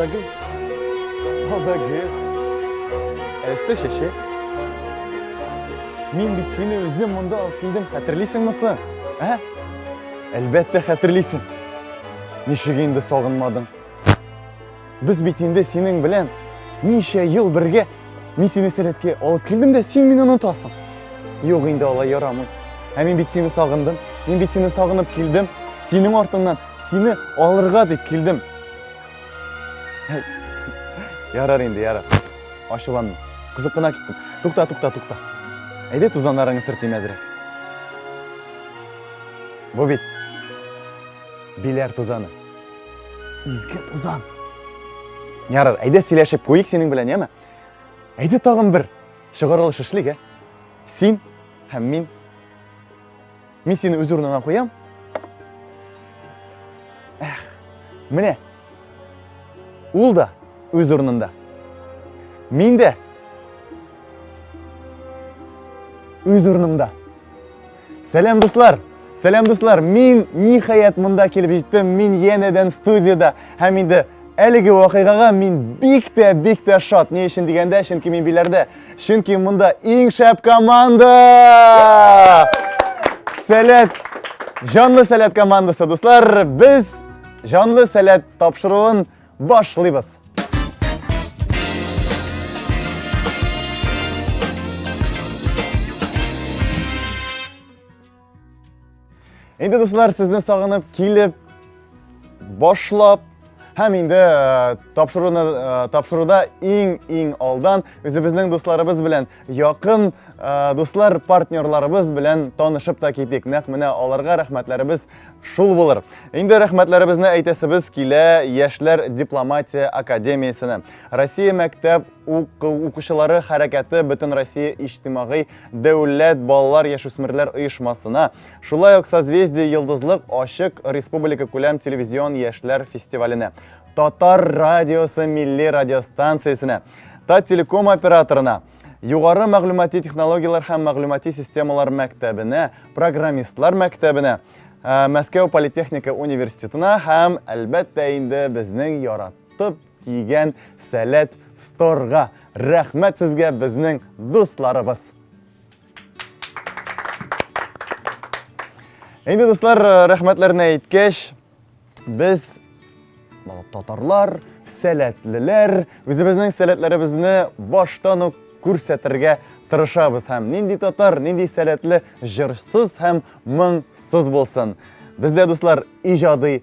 Бәгем, о бәгем, әсте шеше. Мин бит сине үзем монда алып килдем, хәтерлисеңме соң? Ә? Әлбәттә хәтерлисең. Ничек инде сагынмадың? Без бит инде синең белән ничә ел бергә Мин сине сәләткә алып килдем дә, син мине онытасың. Юк инде алай ярамый. Ә мин бит сине сагындым. Мин бит сине сагынып килдем. Синең артыңнан сине алырга дип килдем. Ярар инде, ярар. Ашуланма. Кызып кына киттем. Тукта, тукта, тукта. Әйдә тузаннарыңны сөртим әзрәк. Бу бит Биләр тузаны. Изге тузан. Ярар, әйдә сөйләшеп куйык синең белән, яме? Әйдә тагын бер чыгарылыш эшлик, ә? Син һәм мин Мин сине үз урыныңа куям. Эх, менә. Ул да үз урынында. Мин дә үз урынымда. Сәлам дуслар! Сәлам дуслар! Мин ниһаять монда килеп җиттем. Мин янәдән студияда һәм инде әлеге вакыйгага мин бик тә бик тә шат. Ни өчен дигәндә, чөнки мин биләрдә Чөнки монда иң шәп команда! Сәләт! Җанлы сәләт командасы, дуслар! Без җанлы сәләт тапшыруын башлыйбыз. Инде дуслар, сезне сагынып килеп башлап һәм инде э, тапшыруны э, тапшыруда иң-иң алдан үзебезнең дусларыбыз белән якын э, дуслар партнерларыбыз белән танышып та китик. Нәкъ менә аларга рәхмәтләребез шул булыр. Инде рәхмәтләребезне әйтәсебез килә Яшьләр дипломатия академиясенә. Россия мәктәп укучылары хәрәкәте бөтен Россия иҗтимагый Дәүләт балалар-яшүсмерләр оешмасына, шулай ук Созвездие йолдызлык ачык республика күләм телевизион яшьләр фестиваленә, Татар радиосы милли радиостанциясенә, Таттелеком операторына, Югары мәгълүмати технологияләр һәм мәгълүмати системалар мәктәбенә, программистлар мәктәбенә, Мәскәү политехника университетына һәм, әлбәттә инде, безнең яратып Кигән сәләт сторга. Рәхмәт сезгә безнең дусларыбыз. Инде дуслар, э, рәхмәтләрне әйткәч, без татарлар, сәләтлеләр, үзебезнең сәләтләребезне баштан ук күрсәтергә тырышабыз һәм нинди татар, нинди сәләтле җырсыз һәм моңсыз булсын. Бездә дуслар иҗади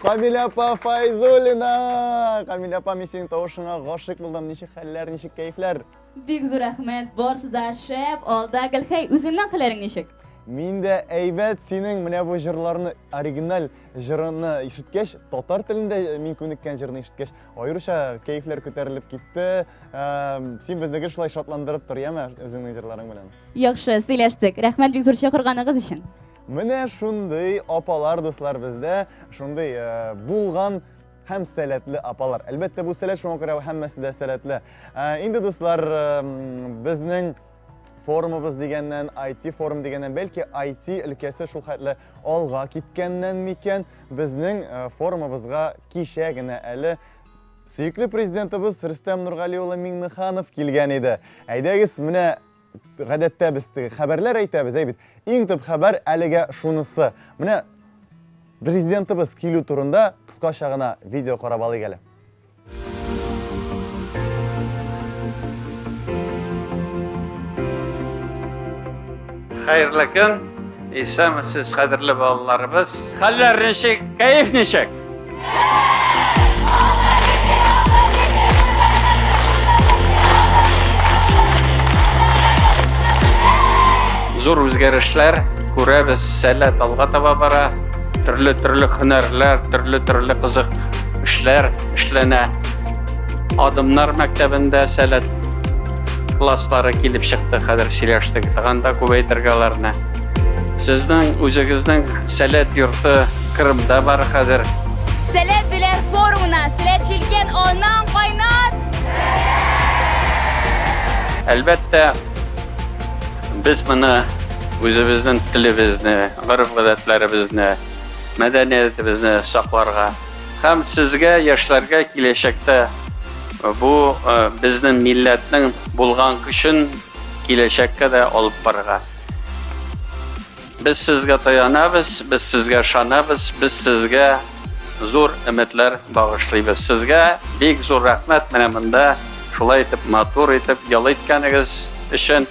Камилә апа Файзулина! Камилә апа, мин синең тавышыңа гашык булдым. Ничек хәлләр, ничек кәйфләр? Бик зур рәхмәт, барысы да шәп, алда Гөлхәй, үзеңнең хәлләрең ничек? Мин дә әйбәт, синең менә бу җырларны, оригиналь җырыны ишеткәч, татар телендә мин күнеккән җырны ишеткәч, Аеруча кәефләр күтәрелеп китте. Син безнеге шулай шатландырып тор, яме, үзеңнең җырларың белән. Яхшы, сөйләштек. Рәхмәт бик зур чакырганыгыз өчен. Менә шундый апалар, дуслар, бездә шундый булган һәм сәләтле апалар. Әлбәттә, бу сәләт шуңа күрә һәммәсе дә сәләтле. Инде дуслар, безнең форумыбыз дигәннән, IT форум дигәннән, бәлки IT өлкәсе шул хәтле Алга киткәннән микән безнең э, форумыбызга кичә генә әле сөекле президентыбыз Рөстәм Нургали улы Миңнеханов килгән иде. Әйдәгез, менә гадәттә без теге хәбәрләр әйтәбез, әй бит. Иң төп хәбәр әлегә шунысы. Менә президентыбыз килү турында кыскача гына видео карап алыйк әле. Хәерле көн. Исәнмесез, кадерле балаларыбыз. Хәлләр ничек? Кәеф ничек? Зур үзгәрешләр күрәбез, сәләт алга таба бара. Төрле-төрле һөнәрләр, төрле-төрле кызык эшләр эшләнә. Адымнар мәктәбендә сәләт класслары килеп чыкты хәзер сөйләштек. Таганда күбәйтергә аларны. Сезнең үзегезнең сәләт йорты Кырымда бар хәзер. Сәләт белән форумына сәләт чилкән аннан кайнар. Әлбәттә, без моны үзебезнең телебезне, гореф-гадәтләребезне мәдәниятебезне сакларга һәм сезгә яшьләргә киләчәктә бу безнең милләтнең булган көчен киләчәккә дә алып барырга без сезгә таянабыз без сезгә ышанабыз без сезгә зур өметләр багышлыйбыз сезгә бик зур рәхмәт менә монда шулай итеп матур итеп ял иткәнегез өчен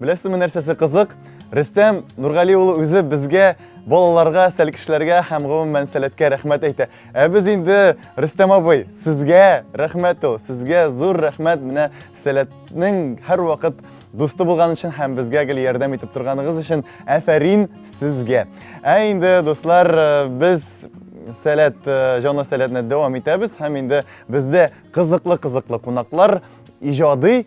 Беләсезме нәрсәсе кызык? Рөстәм Нургали улы үзе безгә балаларга, сәлкешләргә һәм гомумән сәләткә рәхмәт әйтә. Ә без инде Рөстәм абый, сезгә рәхмәт ул, сезгә зур рәхмәт менә сәләтнең һәрвакыт дусты булган өчен һәм безгә гел ярдәм итеп торганыгыз өчен әфәрин сезгә. Ә инде дуслар, э, без сәләт, э, җанлы сәләтне дәвам итәбез һәм инде бездә кызыклы-кызыклы кунаклар, иҗади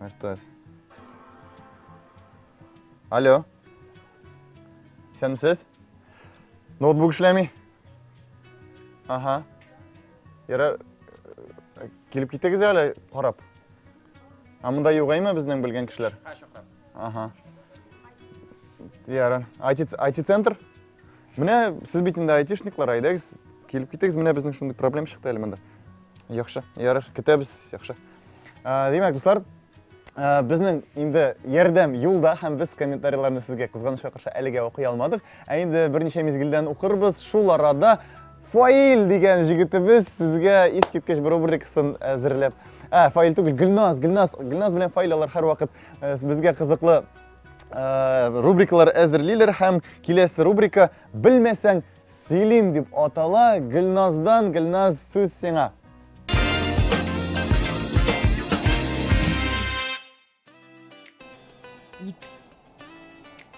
А что это? Алло. Исәнмесез? Ноутбук эшләми? Ага. Ярар, э, килеп китегез әле карап. А монда югаймы безнең белгән кешеләр? Ага. Ярар. IT-центр? Менә сез бит инде айтишниклар, әйдәгез, килеп китегез. Менә безнең шундый проблем чыкты әле монда. Яхшы, ярар, көтәбез, яхшы. Ә, димәк, дуслар, ә, безнең инде ярдәм юлда һәм без комментарийларны сезгә кызганычка каршы әлегә укый алмадык. Ә инде берничә мизгелдән укырбыз. Шул арада Фаил дигән җегетебез сезгә искиткеч бер рубрикасын әзерләп. Ә, Фаил түгел, Гөлназ, Гөлназ, Гөлназ белән Фаил алар һәрвакыт безгә кызыклы э, рубрикалар әзерлиләр һәм киләсе рубрика белмәсәң сөйлим дип атала гөлназдан гөлназ сүз сиңа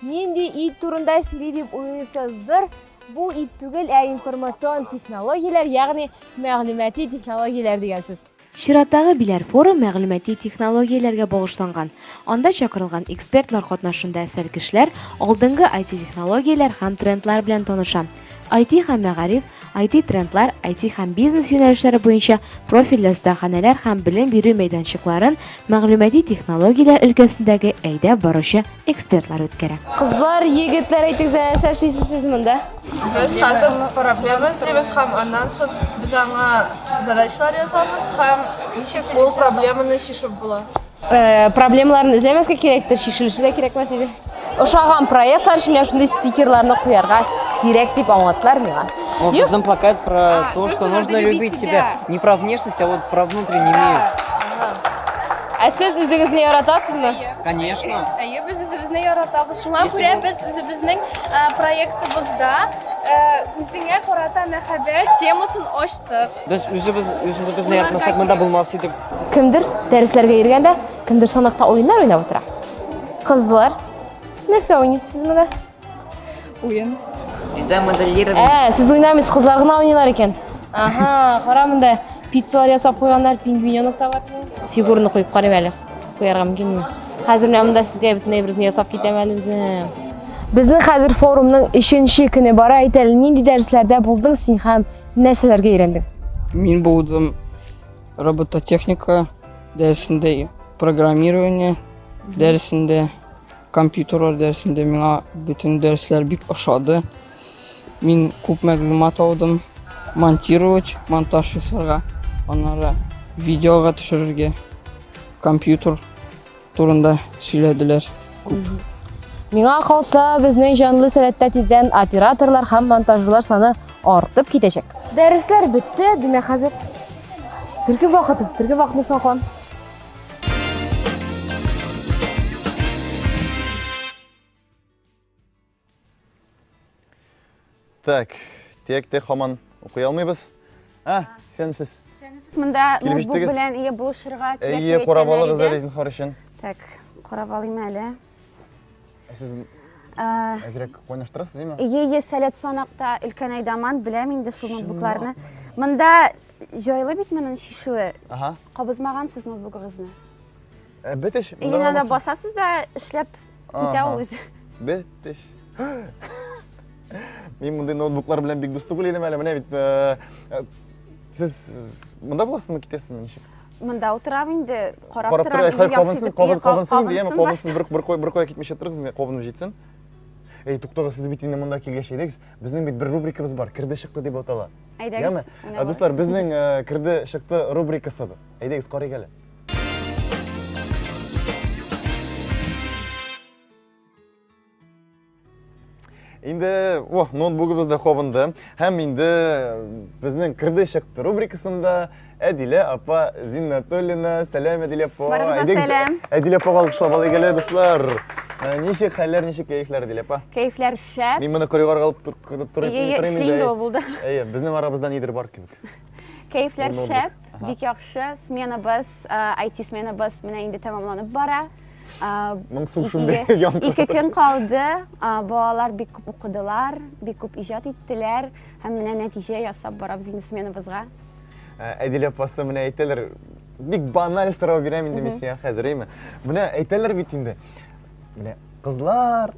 нинди ит турында сөйли деп уйлыйсыздыр бу ит түгел ә информацион технологияләр ягъни мәгълүмати технологияләр дигән сүз Чираттагы Биләр форум мәгълүмати технологияләргә багышланган. Анда чакырылган экспертлар катнашында сәркешләр алдынгы IT-технологияләр һәм трендлар белән таныша. IT һәм мәгариф, IT-трендлар, IT һәм бизнес юнәлешләре буенча профильле остаханәләр һәм белем бирү мәйданчыкларын, мәгълүмати технологияләр өлкәсендәге әйдәп баручы экспертлар үткәрә. Кызлар, егетләр, әйтегез, нәрсә эшлисез сез монда? Без хәзер проблема эзлибез һәм аннан соң без аңа задачалар язабыз һәм ничек ул проблеманы чишеп була. Э, проблемаларны эзләмәскә кирәктер, чишелеше дә кирәкме сезгә? Ошаган проектлар өчен менә шундый стикерларны куярга кирәк дип аңлаттылар миңа. Ну, безнең плакат про а, то, что нужно любить себя. Не про внешность, а вот про внутренний мир. Ә сез үзегезне яратасызмы? Конечно. Әйе, без үзебезне яратабыз. Шуңа күрә без үзебезнең проектыбызда үзеңә карата мәхәббәт темасын ачтык. Без үзебез үзебезне яратмасак, монда булмас идек. Кемдер дәресләргә йөргәндә, кемдер санакта уеннар уйнап утыра. Кызлар, нәрсә уйныйсыз монда? Уен. Инде моделлированный. Ә, сез уйнамыйсыз, кызлар гына уйныйлар икән. Ага, кара монда пиццалар ясап куйганнар, пингвиненок та бар синең. Фигурны куеп карыйм әле. Куярга мөмкинме? Хәзер менә монда сезгә бөтен әйберне ясап китәм әле үзем. Безнең хәзер форумның 3нче көне бара. Әйт әле, нинди дәресләрдә булдың син һәм нәрсәләргә өйрәндең? Мин булдым робототехника дәресендә, программирование дәресендә, Компьютерлар дәресендә миңа бөтен дәресләр бик ошады. Мин күп мәгълүмат алдым. Монтировать, монтаж ясарга, аннары видеога төшерергә, компьютер турында сөйләделәр. Күп. Миңа калса, безнең җанлы сәләттә тиздән операторлар һәм монтажерлар саны артып китәчәк. Дәресләр бетте, димәк хәзер төркем вакыты. Төркем вакытны соң Так, текте хаман укый алмыйбыз. А, исәнмесез. Исәнмесез. Монда ноутбук белән ие булышырга кирәк. Ие, карап алыгыз әле Зинхар өчен. Так, карап алыйм әле. Ә сез әзрәк кайнаштырасыз, димме? Ие, сәләт санакта өлкән айдаман, беләм инде шул ноутбукларны. Монда җайлы бит моның шишүе. Ага. Кабызмагансыз ноутбугыгызны. Ә бетеш. Инде анда басасыз да эшләп китә ул үзе. Бетеш. Мин мондый ноутбуклар белән бик дус түгел идем әле. Менә бит сез монда буласызмы, китәсезме ничек? Монда утырам инде, карап Карап торам, хәй, кабынсын, кабынсын, кабынсын инде, яме, кабынсын, бер, бер, бер кая китмешә торыгыз, кабынып җитсен. Әй, туктагыз, сез бит инде монда килгәч әйдәгез, безнең бит бер рубрикабыз бар, керде чыкты дип атала. Әйдәгез. Яме, ә, дуслар, безнең э, керде чыкты рубрикасы. Әйдәгез, карыйк әле. Инде, о, ноутбугыбыз да кабынды. Һәм инде безнең кирде чыкты рубрикасында Әдилә апа Зиннатуллина. Сәлам, Әдилә апа. Барыгызга сәлам. Әдилә апа алкышлап алыйк әле, дуслар. Э, ничек хәлләр, ничек кәефләр, Әдилә апа? Кәефләр шәп. Мин моны коридорга алып торып торыйм инде. Әйе, инде ул булды. Әйе, безнең арабызда нидер бар кебек. Кәефләр шәп, бик яхшы. Сменабыз, IT-сменабыз э, менә инде тәмамланып бара. Моңсу шундый янкы. Ике көн калды. Балалар бик күп укыдылар, бик күп иҗат иттеләр һәм менә нәтиҗә ясап барабыз инде сменабызга. Әдилә апасы менә әйтәләр, бик баналь сорау бирәм инде мин сиңа хәзер, әйме? Менә әйтәләр бит инде. Менә кызлар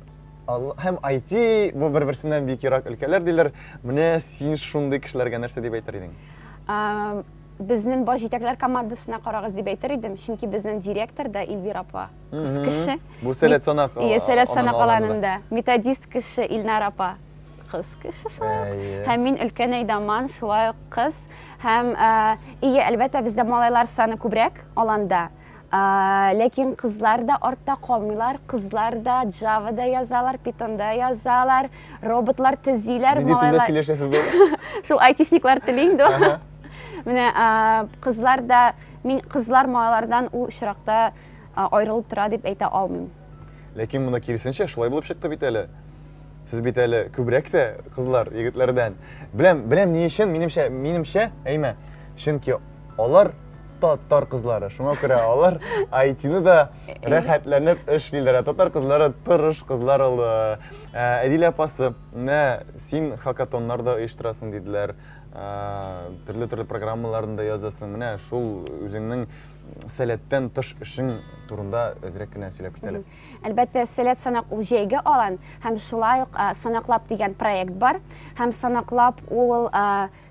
һәм IT бу бер-берсеннән бик ерак өлкәләр диләр. Менә син шундый кешеләргә нәрсә дип әйтер идең? Безнең баш җитәкләр командасына карагыз дип әйтер идем, чөнки безнең директор да Илвир апа, кыз кеше. Бу сәләт санак. Ие, сәләт санак аланында. Методист кеше Илнар апа, кыз кеше шулай ук. Һәм мин өлкән Әйдаман, шулай ук кыз. Һәм, ие, әлбәттә, бездә малайлар саны күбрәк аланда. Ләкин кызлар да артта калмыйлар, кызлар да Java да язалар, Python да язалар, роботлар төзиләр, Нинди телдә малайлар. сөйләшәсез дә? Шул айтишниклар теле инде ул. Ага. Менә а, кызлар да, мин кызлар малайлардан ул очракта а, аерылып тора дип әйтә алмыйм. Ләкин моны киресенчә шулай булып чыкты бит әле. Сез бит әле күбрәк тә кызлар егетләрдән. Беләм, беләм ни өчен, минемчә, минемчә, әйме? Чөнки Алар татар кызлары, шуңа күрә алар IT-ны да рәхәтләнеп эшлиләр. Татар кызлары тырыш кызлар ул. Әдил апасы, менә син хакатоннар да оештырасың диделәр, төрле-төрле программаларны да язасың. Менә шул үзеңнең сәләттән тыш эшең турында әзрәк кенә сөйләп китәле. Әлбәттә, сәләт санак ул җәйге алан һәм шулай ук санаклап дигән проект бар. Һәм санаклап ул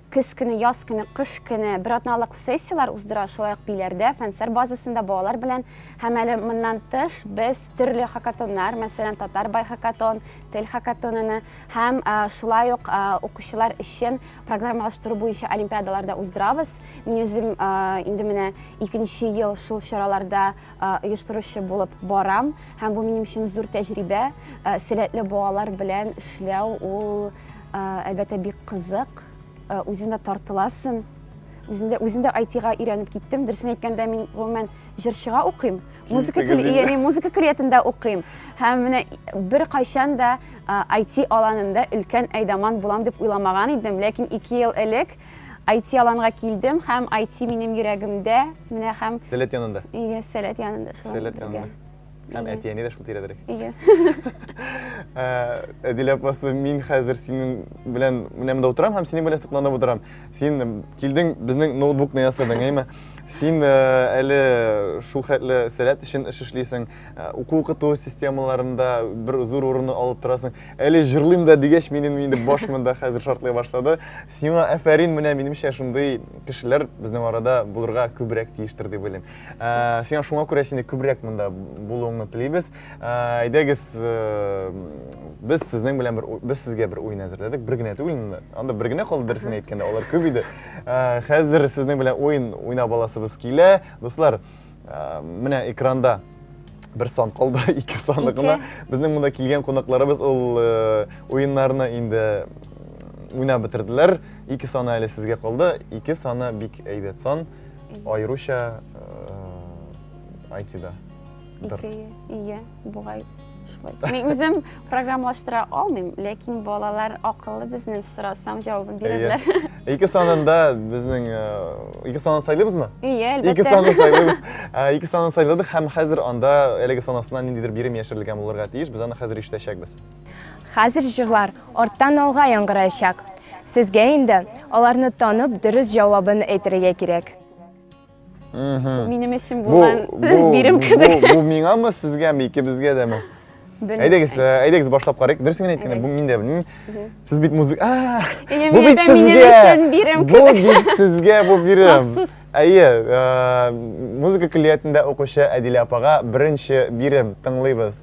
Көз көне, яз көне, кыш көне бер атналык сессияләр уздыра, шулай ук Биләрдә, Фәнсәр базасында балалар белән. Һәм әле моннан тыш без төрле хакатоннар, мәсәлән, Татар бай хакатон, Тел хакатоныны һәм шулай ук укучылар өчен программалаштыру буенча олимпиадалар да уздырабыз. Мин үзем инде менә икенче ел шул чараларда оештыручы булып барам. Һәм бу минем өчен зур тәҗрибә. Сәләтле балалар белән эшләү ул Әлбәттә, бик кызык. Үзендә тартыласын. Үзендә үзендә айтига өйрәнеп киттем. Дөресен әйткәндә, мин гомумән җырчыга укыйм. Музыка көллиятендә мин музыка көллиятендә укыйм. Һәм менә бер кайчан да айти аланында өлкән әйдаман булам дип уйламаган идем, ләкин 2 ел элек айти аланга килдем һәм айти минем йөрәгемдә, менә һәм Сәләт янында. Ие, сәләт янында. Сәләт янында. Һәм Әйе. әти-әни дә шул тирәдерәк. Әйе. Ә, Әдил апасы, мин хәзер синең белән менә монда утырам һәм синең белән сокланып утырам. Син килдең, безнең ноутбукны ясадың, әйме? Син ә, әле шул хәтле сәләт өчен эш эшлисең, ә, уку-укыту системаларында бер зур урынны алып торасың. Әле җырлыйм да дигәч, минем инде баш монда хәзер шартлый башлады. Сиңа әфәрин, менә минемчә шундый кешеләр безнең арада булырга күбрәк тиештер дип уйлыйм. Ә, сиңа шуңа күрә сине күбрәк монда булуыңны телибез. Ә, әйдәгез, ә, без сезнең белән бер без сезгә бер уен әзерләдек. Бер генә түгел монда. Анда бер генә калды дөресен әйткәндә, алар күп иде. Ә, хәзер сезнең белән уен уйнап аласыбыз килә. Дуслар, ә, менә экранда бер сан калды, ике саны гына. Безнең монда килгән кунакларыбыз ул э, уеннарны инде уйнап бетерделәр. Ике саны әле сезгә калды. Ике саны бик әйбәт сан. Аеруча IT-да. Ике, ие, бугай шулай. Мин үзем программалаштыра алмыйм, ләкин балалар акыллы безнең сорасам җавабын бирәләр. Ике санында безнең ике санын сайлыйбызмы? Ие, әлбәттә. Ике санны сайлыйбыз. Ике санны сайладык һәм хәзер анда әлеге санасына ниндидер бирем яшерелгән булырга тиеш. Без аны хәзер ишетәчәкбез. Хәзер җырлар арттан алга яңгыраячак. Сезгә инде аларны танып, дөрес җавабын әйтергә кирәк. Бу минем өчен булган бирем кебек. Бу миңамы, сезгәме, икебезгә дәме? Әйдәгез, э, әйдәгез башлап карыйк. Дөресен генә әйткәндә, бу миндә белмим. Сез бит музыка. А! Бу бит сезгә. Бу бит сезгә бу бирем. Әйе, э, музыка көллиятендә укучы Әдилә апага беренче бирем тыңлыйбыз.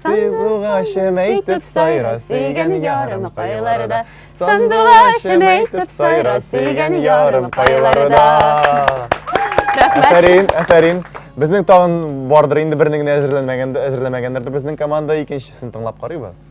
Сандугачым әйтеп сайра, сөйгән ярым кайларда. Сандугачым әйтеп сайра, сөйгән ярым кайларда. Рәхмәт. Афәрин, афәрин. Безнең тагын бардыр инде берне генә әзерләмәгәндер безнең команда, икенчесен тыңлап карыйбыз.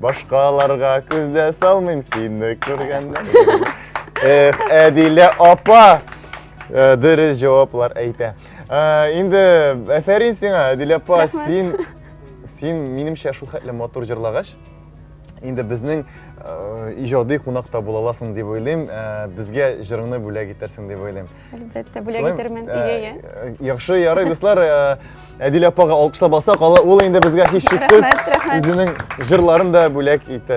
Башкаларга күз дә салмыйм сине күргәннән. Эх, Әдилә апа! Э, дөрес җаваплар әйтә. Э, инде әфәрин сиңа, Әдилә апа, син син минемчә шул хәтле матур җырлагач, инде безнең э, иҗади кунакта була аласың дип уйлыйм. Безгә җырыңны бүләк итәрсең дип уйлыйм. Әлбәттә, бүләк итермен Игәгә. Яхшы, ярый, дуслар. Әдилә апага алкышлап алсак, ул инде безгә һичшиксез үзенең җырларын да бүләк итә,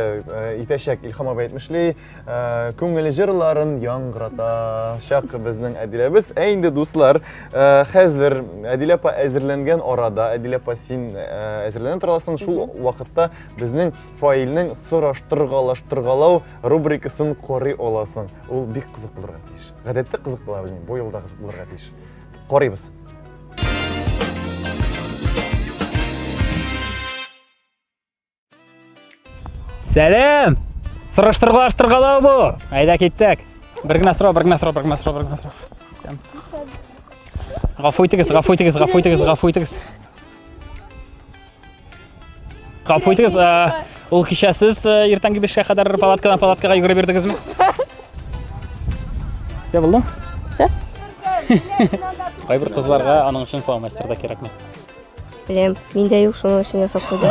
итәчәк. Илхам абый әйтмешли, күңел җырларын яңгыратачак безнең Әдиләбез. Ә инде дуслар, хәзер Әдилә апа әзерләнгән арада, Әдилә апа син әзерләнә торасың, шул вакытта безнең фаилнең сораштыргалаштыргалау рубрикасын карый аласың. Ул бик кызык булырга тиеш. Гадәттә кызык була, белмим, бу елда кызык булырга тиеш. Карыйбыз. Сәлам! Сораштыргалаштыргалау бу. Айда киттек. Бер генә сорау, бер генә сорау, бер генә сорау, бер генә сорау. Сәм. Гафу итегез, гафу итегез, гафу итегез, гафу итегез. Гафу итегез, ул кичә сез иртәнге бишкә кадәр палаткадан палаткага йөгереп йөрдегезме? Все булды? Все. Кайбер кызларга аның өчен фломастер да кирәкми. Беләм, миндә юк, шуның өчен ясап куйдым.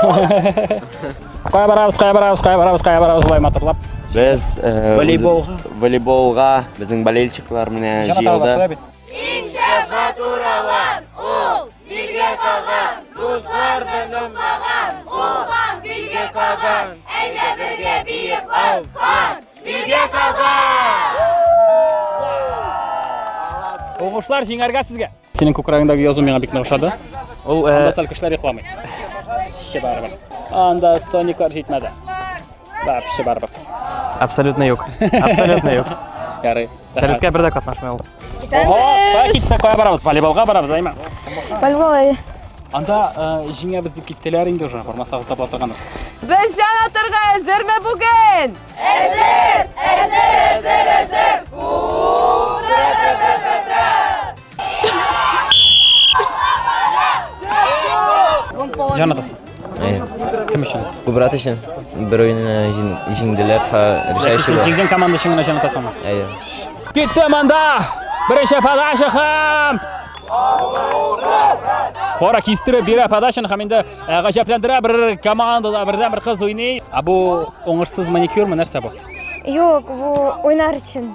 Кая барабыз, кая барабыз, кая барабыз, кая барабыз, болай матурлап. Без волейболга, волейболга безнең болельщиклар менә җыелды. Иң шәп матур алан ул! Билге каган, дуслар белән каган, кулдан билге каган, әйдә бергә биеп алган, билге каган! Уңышлар җиңәргә сезгә! Синең күкрәгеңдәге язу миңа бик ошады. Ул э, анда сәл кешеләр йокламый. Ши барыбер. Анда сониклар җитмәде. Вообще барыбер. Абсолютно юк. Абсолютно юк. Ярый. Сәләткә бер дә катнашмый ул. Ого, так китсә кая барабыз? Волейболга барабыз, әйме? Волейбол әйе. Анда э, җиңәбез дип киттеләр инде уже, бармасагыз таба торган. Без җан атырга әзерме бүген? Әзер! Әзер, әзер, әзер! Ура! Җанатасы. Кем өчен? Кубрат өчен. Бер уйны җиңделәр, решающий. Җиңгән команда өчен генә җанатасыңмы? Әйе. Китте монда! Беренче подача һәм Хора кистереп бирә подачаны һәм инде э, гаҗәпләндерә бер командада бердән бер кыз уйный. Ә бу уңышсыз маникюрмы нәрсә бу? Юк, бу уйнар өчен.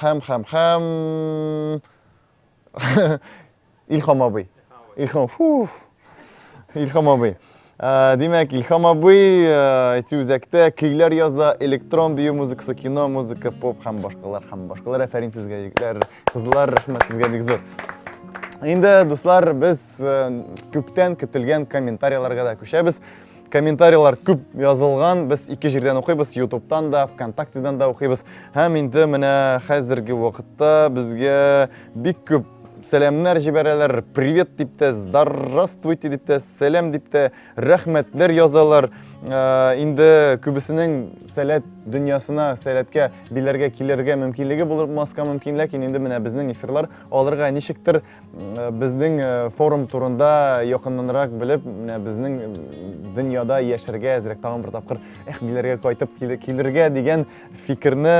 Хәм, хәм, хәм. Илхам абый. Илхам, фуф. Илхам абый. Ә, Димәк, Илхам абый ә, әти үзәктә көйләр яза, электрон бию музыкасы, кино музыка, поп һәм башкалар һәм башкалар. Афәрин сезгә, егетләр, кызлар, рәхмәт сезгә бик зур. Инде, дуслар, без ә, күптән көтелгән комментарийларга да күчәбез. Комментарийлар күп язылган, без ике җирдән укыйбыз, ютубтан да, вконтактедан да укыйбыз. Һәм инде менә хәзерге вакытта безгә бик күп сәламнәр җибәрәләр, привет дип тә, здравствуйте дип тә, сәлам дип тә, рәхмәтләр язалар. Ә, инде күбесенең сәләт дөньясына, сәләткә биләргә килергә мөмкинлеге булмаска мөмкин, ләкин инде менә безнең эфирлар алырга ничектер Э, безнең э, форум турында якыннанрак белеп, менә безнең э, дөньяда яшәргә әзрәк тагын бер тапкыр эх биләргә кайтып килергә дигән фикерне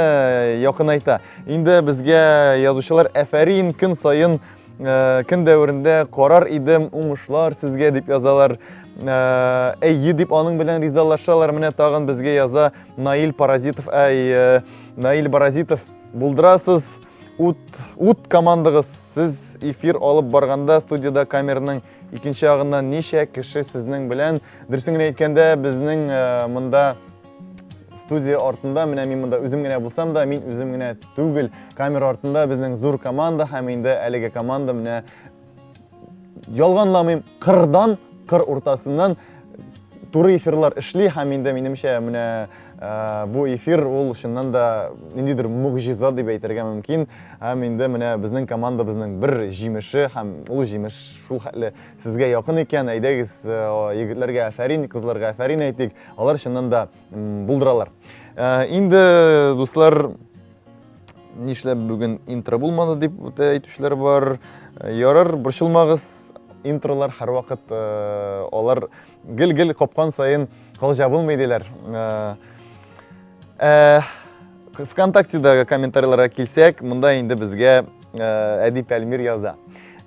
якынайта. Инде безгә язучылар әфәрин көн саен көн дәверендә карар идем, уңышлар сезгә дип язалар. Әйе дип аның белән ризалашалар. Менә тагын безгә яза Наил Паразитов. Әй, Наил Паразитов, булдырасыз. Ут, ут командагыз, сез эфир алып барганда студияда камерның икенче ягында ничә кеше сезнең белән? Дөресен генә әйткәндә, безнең э, монда студия артында, менә мин монда үзем генә булсам да, мин үзем генә түгел. Камера артында безнең зур команда һәм инде әлеге команда менә Ялганламыйм, кырдан, кыр уртасыннан туры эфирлар эшли һәм инде минемчә менә э, бу эфир ул чыннан да ниндидер могҗиза дип әйтергә мөмкин һәм инде менә безнең командабызның бер җимеше һәм ул җимеш шул хәтле сезгә якын икән әйдәгез э, егетләргә афәрин кызларга афәрин әйтик алар чыннан да булдыралар э, инде дуслар Нишләп бүген интро булмады дип үтә әйтүчеләр бар. Ярар, борчылмагыз, интролар һәрвакыт э, алар гел-гел капкан саен кол жабылмый диләр. Э, э, ВКонтактедагы комментарийларга килсәк, монда инде безгә Әдип Әлмир яза.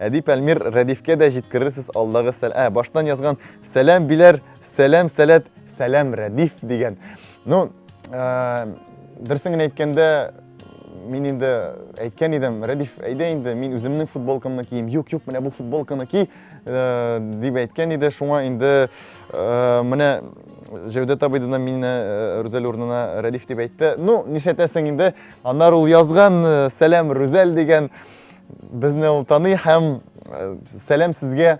Әдип Әлмир Рәдифкә дә җиткерерсез алдагы сәл... Ә, баштан язган сәләм биләр, сәләм сәләт, сәләм Рәдиф дигән. Ну, дөресен генә әйткәндә, мин инде әйткән идем, Рәдиф, әйдә инде, мин үземнең футболкамны кием. Юк, юк, менә бу футболканы ки, э, дип әйткән иде. Шуңа инде э, менә Җәүдәт абый да мине э, Рүзәл урынына Рәдиф дип әйтте. Ну, нишләтәсең инде? Аннар ул язган Сәлам Рүзәл дигән безне ул таный һәм Сәлам сезгә